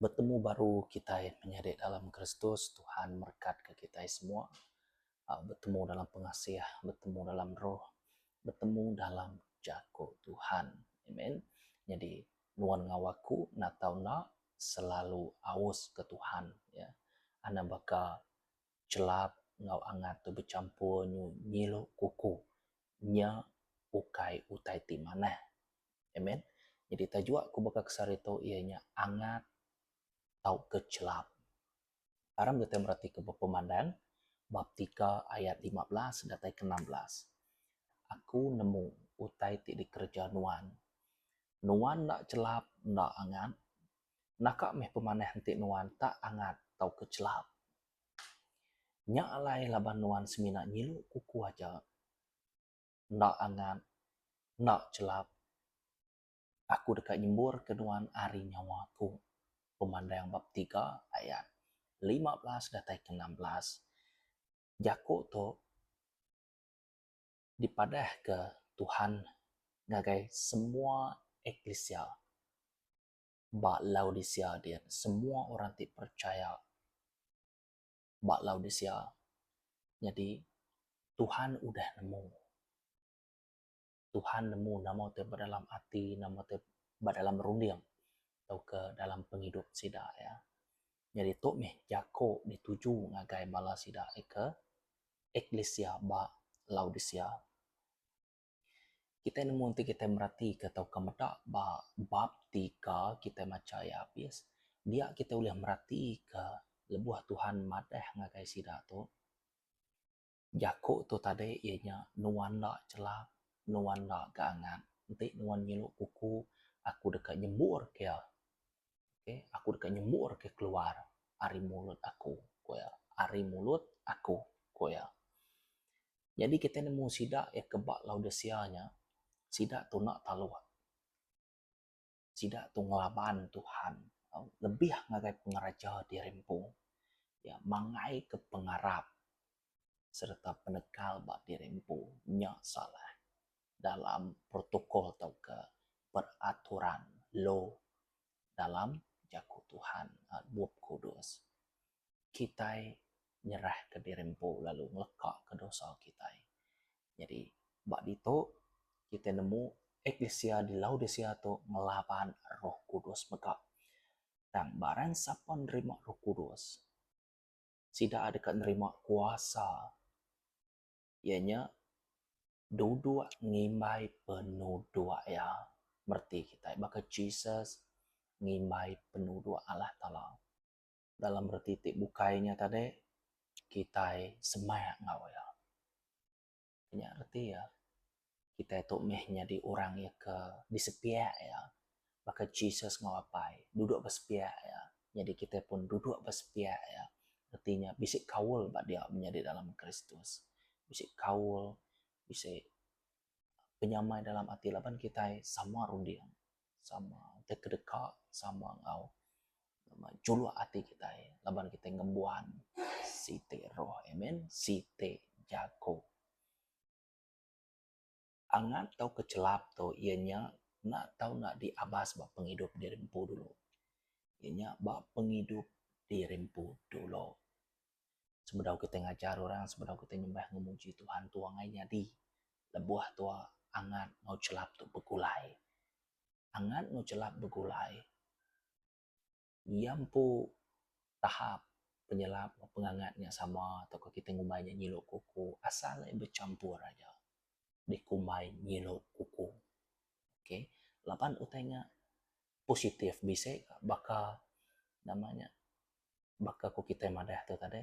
Betemu baru kitai menyadi dalam Kristus, Tuhan merekatka kitai semua. Aa betemu dalam pengasih, betemu dalam roh, betemu dalam jaku Tuhan. Amen. Nyadi nuan enggau aku natau enda, selalu aus ke Tuhan ya anda baka chelap enggau angat tu bechampur nyu nyilu kuku nya ukai utai ti manah amen nyadi tajuk aku baka kesari tu iya nya angat tauka chelap. Aram kitai meratika ba pemandang bab tiga ayat lima belas datai ke enam belas. Aku nemu utai ti dikereja nuan. Nuan enda chelap enda angat. Naka meh pemanah enti nuan tak angat tauka chelap. Nya alai laban nuan semina nyilu kuku aja, enda angat, enda chelap. Aku deka nyemburka nuan ari nyawa aku. Pemandang bab tiga ayat lima belas datai ke enam belas, jaku tu dipadahka Tuhan ngagai semua eklisia ba Laodisea dian semua orang ti percaya ba Laodisea. Nyadi Tuhan udah nemu. Tuhan nemu nama ti ba dalam ati nama ti ba dalam runding tauka dalam pengidup sida iya. Nyadi tu meh jako dituju ngagai bala sida ke eklisia ba Laodicea. Kitai nemu enti kitai meratika tauka meda ba bab tiga kitai macha iya abis dia kitai ulih meratika lebuh Tuhan madah ngagai sida tu Jaku tu tadi iya nya nuan enda chelap, nuan enda ga angat enti nuan ngilu kuku aku deka nyembur ka iya. Okay, aku deka nyembur ka iya keluar ari mulut aku, ku iya, ari mulut aku, ku iya. Nyadi kita nemu sida iya ke ba Laodicea nya, sida tu enda taluk. sida tu ngelaban Tuhan lebih ngagai pengereja ti rimpu iya mangaika pengarap sereta penekal ba diri empu nya salah dalam protokol tauka peraturan law dalam Jaku Tuhan Bup Kudus. kitai nyerahka diri empu lalu ngelekaka dosa kitai. Nyadi, ba ditu kitai nemu eklisia di Laodisea tu ngelaban Roh Kudus mega. Tang barang sapa nerima Roh Kudus, sida deka nerima kuasa iya nya duduk ngimbai penuduk iya. Mereti kitai baka Jesus ngimbai penuduk Allah Taala. dalam reti ti bukai nya tadi kitai semak enggau iya. Nya reti iya kitai tu meh nyadi orang iya ke disepiak iya baka Jesus enggau Apai duduk ba sepiak iya nyadi kitai pun duduk ba sepiak iya reti nya bisi kaul ba dia menyadi dalam Kristus. Bisi kaul bisi penyamai dalam ati laban kitai sama runding sama tekedeka sama enggau juluk ati kitai laban kitai ngembuan siti roh amen siti jaku. Angat tau ke chelap tu iya nya enda tau nak diabas ba pengidup diri empu dulu iya nya ba pengidup diri empu dulu. sebedau kitai ngajar orang sebedau kitai nyembah enggau muji Tuhan tua ngai nyadi lebuh tua angat enggau chelap tu begulai. Angat enggau chelap begulai iya empu tahap penyelap enggau pengangat nya sama tauka kitai ngumbai nya nyilu kuku asal ne bechampur aja dikumbai nyilu kuku okay laban utai nya positif bisi ka baka nama nya baka ku kitai madah tu tadi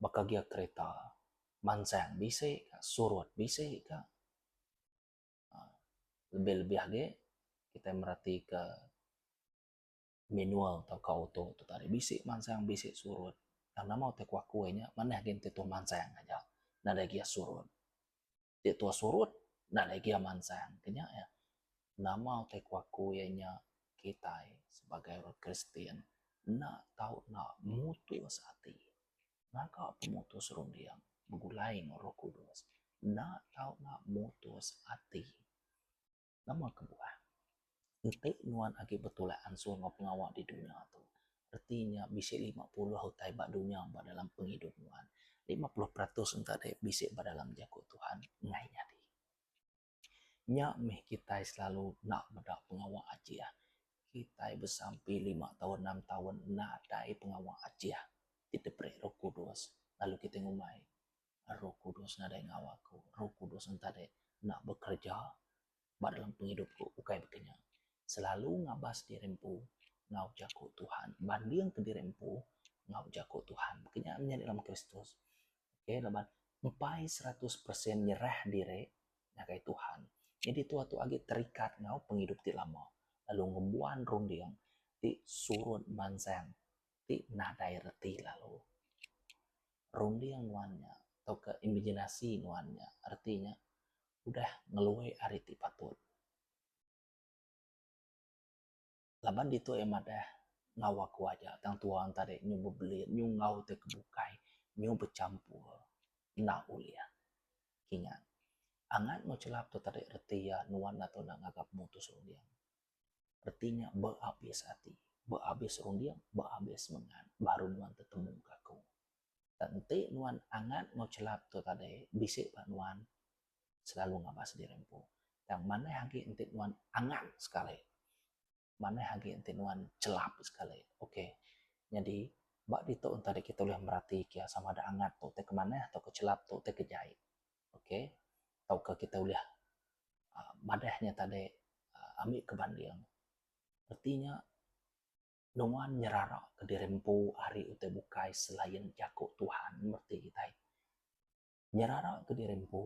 baka gia kereta mansang bisi ka surut bisi ka aaa lebih lebih agi kitai mereti ka manual tau ka auto tu tadi bisi mansang bisi surut tang nama utai kuaku inya manah agi enti tu mansang aja nadai gia surut. ti tua surut enda lagi iya mansang ke nya iya nama utai ku aku iya nya kitai sebagai orang kristian enda tau nak mutus ati ngaga pemutus runding begulai enggau roh kudus enda tau nak mutus ati. Nama kebuah enti nuan agi betulak ansur enggau pengawa di dunya tu? Reti nya bisi lima puluh utai ba dunya ba dalam pengidup nuan. Lima puluh peratus enta dei bisi ba dalam jaku Tuhan enggai nyadi. Nya mih kitai selalu enda meda pengawa ajih. Kitai besampi lima taun enam taun nadai pengawa ajih ti diberi Roh Kudus lalu kitai ngumbai Roh Kudus nadai ngawa aku. Roh Kudus entah deh enda bekerja ba dalam pengidup ku ukai baka nya. Selalu ngabas diri empu enggau jaku Tuhan. Banding ke diri empu enggau jaku Tuhan. Baka nya meh nyadi dalam Kristus. Okay laban empai seratus persen nyerah diri ngagai Tuhan. Jadi tuah tu agi terikat enggau pengidup ti lama lalu ngembuan runding ti surut mansang. ti nadai reti lalu runding nuan nya tauka imaginasi nuan nya reti nya udah ngelui ari ti patut. Laban ditu iya madah enggau aku aja tang tuwa tadi nyu bebelit nyu enggau ti ke bukai nyu bechampur enda ulih kinyat angat enggau chelap tu tadi reti iya nuan atu enda ngaga pemutus runding. reti nya beabis ati, beabis runding, beabis semengat baru nuan tetemu ka aku. Tang enti nuan angat enggau chelap tu tadi bisi ba nuan selalu ngabas sendiri empu. Tang manah agi enti nuan angat sekali, manah agi enti nuan chelap sekali. Okay, nyadi ba ditu enti kita ulih meratika sama ada angat tu ti ke manah tauka chelap tu ti ke jai. ok tauka kita ulih aaa madah nya tadi aaa ami ke banding reti nya nuan nyerara ke diri empu ari utai bukai selain jaku Tuhan meh ti kitai. Nyerara ke diri empu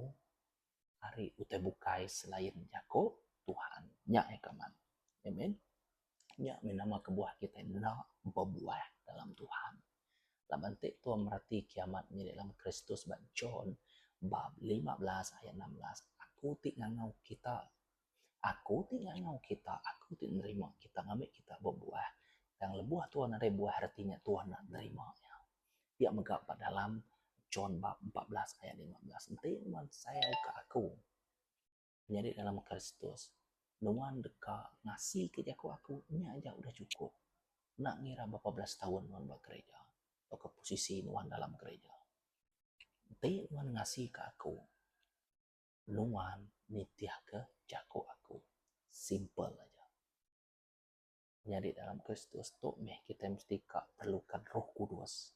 ari utai bukai selain jaku Tuhan nya eka man. Amen. Nya mih nama kebuah kitai enda bebuah dalam Tuhan. Laban ti Tuhan merati kiamat nyadi dalam Kristus ba John bab lima belas ayat enam belas, Aku ti ngangau kita, Aku ti ngangau kita, Aku ti nerima kita ngambi kita bebuah. Tang lebuh Tuhan nadai buah reti nya Tuhan enda nerima iya. Pia mega ba dalam John bab empat belas ayat lima belas, Enti nuan sayauka Aku, Nyadi dalam Kristus, nuan deka ngasika jaku aku nya aja udah chukup, enda ngira berapa belas taun nuan ba gerija tauka posisi nuan dalam gerija. Enti nuan ngasika aku, nuan nitihka jaku aku. Simple aja. Nyadi dalam Kristus tu meh kitai mesti ka perluka Roh Kudus.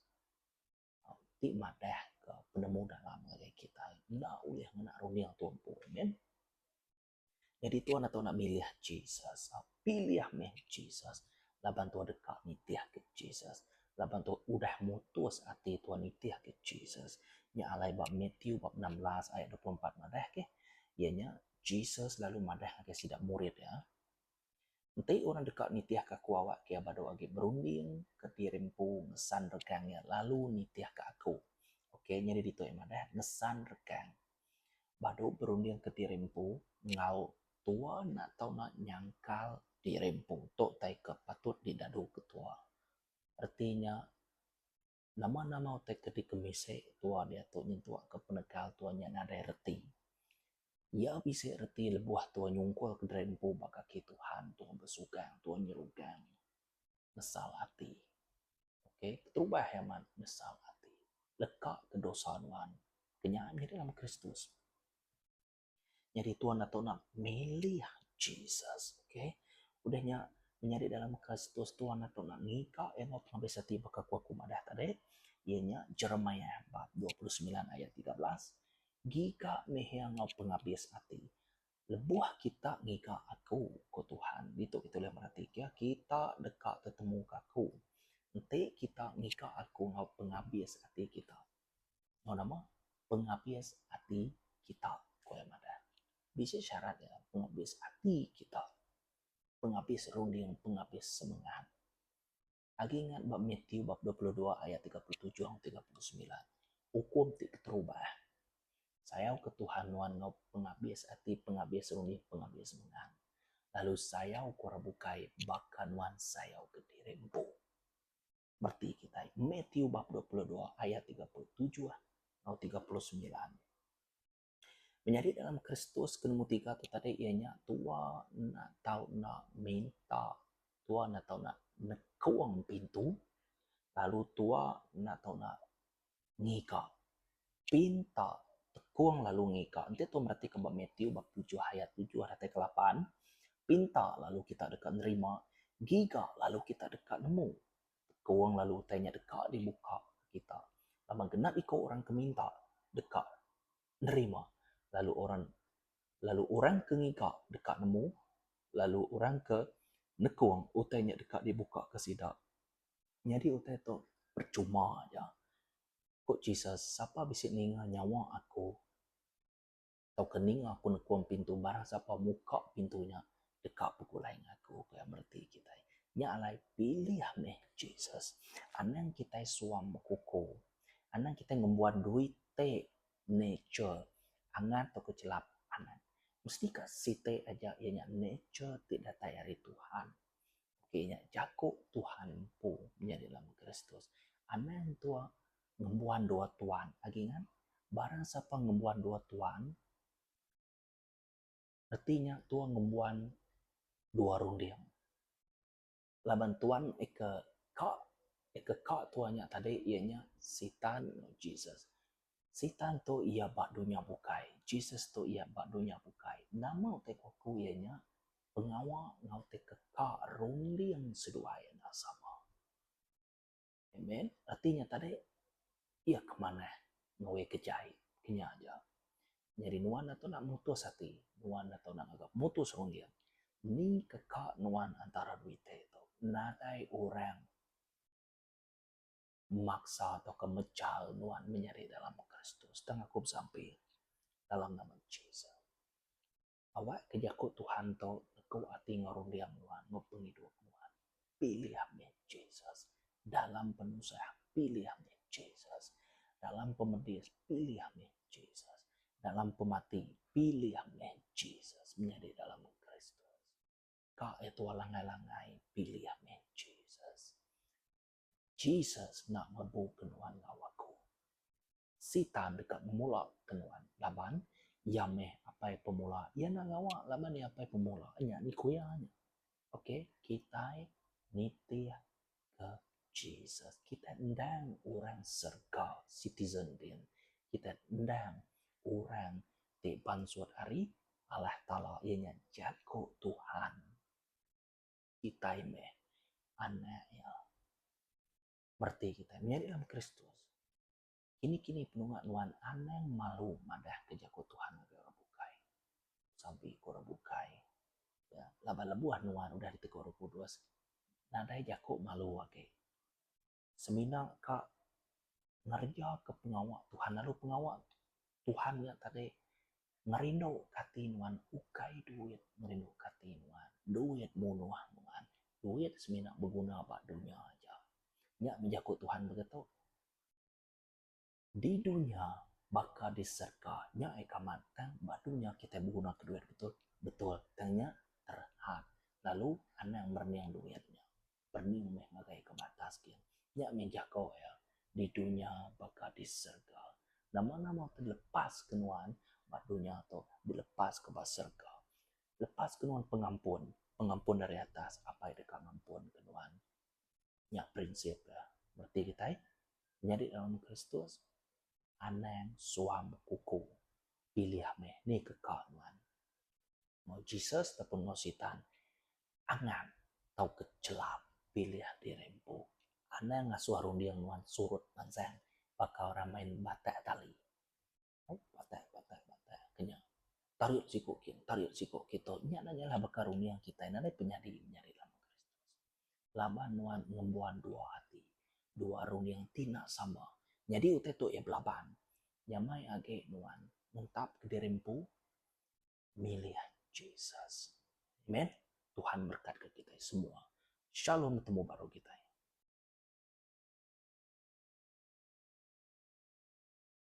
Ti madahka penemu dalam ngagai kitai enda ulih ngena runding tu empu. Amen. Nyadi tuan ato enda milih Jesus. Pilih mih Jesus laban tuan deka nitihka Jesus. Laban tuan udah mutus ati tuan nitihka Jesus. Nya alai ba Matthew bab enam belas ayat dua puluh empat madah ke iya nya Jesus lalu madah ngagai sida murid iya Enti orang deka nitihka aku awak kia badu agi berunding ke diri empu ngesan regang iya lalu nitihka aku. Ok nyadi ditu iya madah ngesan regang. Badu berunding ke diri empu enggau tua enda tau nak nyangkal diri empu tu taika patut didadu ke tua. Reti nya. Nama nama utai ke dikemisi tua diatu nyentukka penekal tua nya nadai reti? Iya bisi reti lebuh tua nyungkulka diri empu ba kaki Tuhan, tua besugang, tua nyerugang, nyesal ati. Okay, keterubah iya amat nyesal ati, lekaka dosa nuan, ke nya nyadi dalam Kristus. Nyadi tuan ato enda milih Jesus. Okay. Udah nya menyadi dalam Kristus tuan ato enda ngiga iya enggau pengabis ati baka ku aku madah tadi iya nya Jeremiah bab dua puluh semilan ayat tiga belas ngiga nihia enggau pengabis ati lebuh kita ngiga aku ku Tuhan. Ditu kita ulih mereti ke kita deka tetemuka aku enti kita ngiga aku enggau pengabis ati kita. Enggau nama? Pengabis ati kita, ku iya madah. Bisi syarat iya pengabis ati kita. Pengabis runding, pengabis semengat. Agi ingat ba Matthew bab dua puluh dua ayat tiga puluh tujuh enggau tiga puluh semilan, ukum ti keterubah, Sayauka Tuhan nuan enggau pengabis ati, pengabis runding, pengabis semengat, lalu sayauka orang bukai baka nuan sayauka diri empu. Bereti kitai Matthew bab dua puluh dua ayat tiga puluh tujuh enggau tiga puluh semilan. Menyadi dalam Kristus ke nemu tiga tu tadi iya nya tua enda tau enda minta tua enda tau enda nekung pintu lalu tua enda tau enda ngiga. Pin ta tekong lalu ngiga. Enti tu mereti ke ba Matthew bab tujuh ayat tujuh datai ke lapan, pin ta lalu kita deka nerima, ngiga lalu kita deka nemu. Tekong lalu utai nya deka dibuka kita. Laban genap iko orang ke minta deka nerima lalu orang lalu orang ke ngiga deka nemu lalu orang ke nekong utai nya deka dibuka ke sida. nyadi utai tu percuma aja. Ku Jesus, sapa bisi ninga nyawa aku tauka ninga aku nekuang pintu barang sapa muka pintu nya deka begulai ngan aku, ku iya mereti kitai. Nya alai pilih mih Jesus. Anang kitai suang bekuko, anang kitai ngembuan duit te nature angat tauka chelap anang mesti ka siti aja iya nya nature ti datai ari Tuhan. Okey nya jaku Tuhan empu menyadi lama Kristus. Anang entua ngembuan dua tuan agi ngan barang sapa ngembuan dua tuan reti nya tua ngembuan dua runding. Laban tuan ika ka ika ka tua nya tadi iya nya sitan enggau Jesus. Sitan tu iya ba dunya bukai. Jesus tu iya ba dunya bukai. Nama utai ku aku iya nya pengawa enggau ti keka runding seduai enda sama. Amen. Reti nya tadi iya ke manah enggau iya ke jai. Kinya aja. Nyadi nuan enda tau nak mutus ati. Nuan enda tau nak ngaga mutus runding. Ni keka nuan antara dua iti tu. Nadai orang. memaksa tauka mejal nuan menyadi dalam Kristus tang aku besampi dalam nama Jesus. Awakka jaku Tuhan tu ngeku ati enggau runding nuan enggau pengidup nuan. Pilih mih Jesus dalam penusah, pilih mih Jesus dalam pemedis, pilih mih Jesus dalam pemati, pilih mih Jesus menyadi dalam Kristus. Ka eh tuah langgai-langgai, pilih mih Jesus. Jesus enda ngerebuka nuan enggau aku. Sitan deka ngemulaka nuan laban iya meh apai pemula. Iya enda ngawa laban iya apai pemula. Nya ni ku iya nya. Okay, kitai nitihka Jesus. Kitai endang orang serega, citizen din. Kitai endang orang ti bansut ari Allah Taala, iya nya jaku Tuhan. kitai meh anak iya. Bereti kitai menyadi dalam Kristus, kini-kini penunga nuan anang malu madahka jaku Tuhan ngagai orang bukai. Sampi ku orang bukai, iya, laban lebuh nuan udah ditegor Roh Kudus, nadai jaku malu agi. semina ka ngereja ka pengawa Tuhan lalu pengawa Tuhan nya tadi ngerindu ka ati nuan ukai duit ngerindu ka ati nuan duit munuh nuan duit semina beguna ba dunya aja nya bejaku Tuhan begitu. di dunya baka di serga nya ai kamat tang ba dunya kitai beguna ke duit betul betul tang nya terhad lalu anang merening duit nya pening meh ngagai ka batas gin nya meh jaku iya di dunya baka di serga nama nama ti lepas ke nuan ba dunya tu dilepas ke ba serga lepas ke nuan pengampun pengampun ari atas apai deka ngampun ke nuan. nya prinsip da reti kitai nyadi orang kristus anang suang bekuku pilih meh ni ke ka nuan ngau jesus ataupun ngau sitan anang tauka chelam pilih diri empu anang ngasuh runding nuan surut mansang baka orang main batak tali. Patah patah patah ke nya. Tarit siku kin tarit siku kin tu nya na nya baka runding kitai nadai penyadi menyadi dalam Kristus. Laban nuan ngembuan dua ati, dua runding ti enda sama. Nyadi utai tu iya belaban. Nya mai agi nuan nentap diri empu milih Jesus. Amen. Tuhan berekatka kitai semua. Shalom temu baru kitai.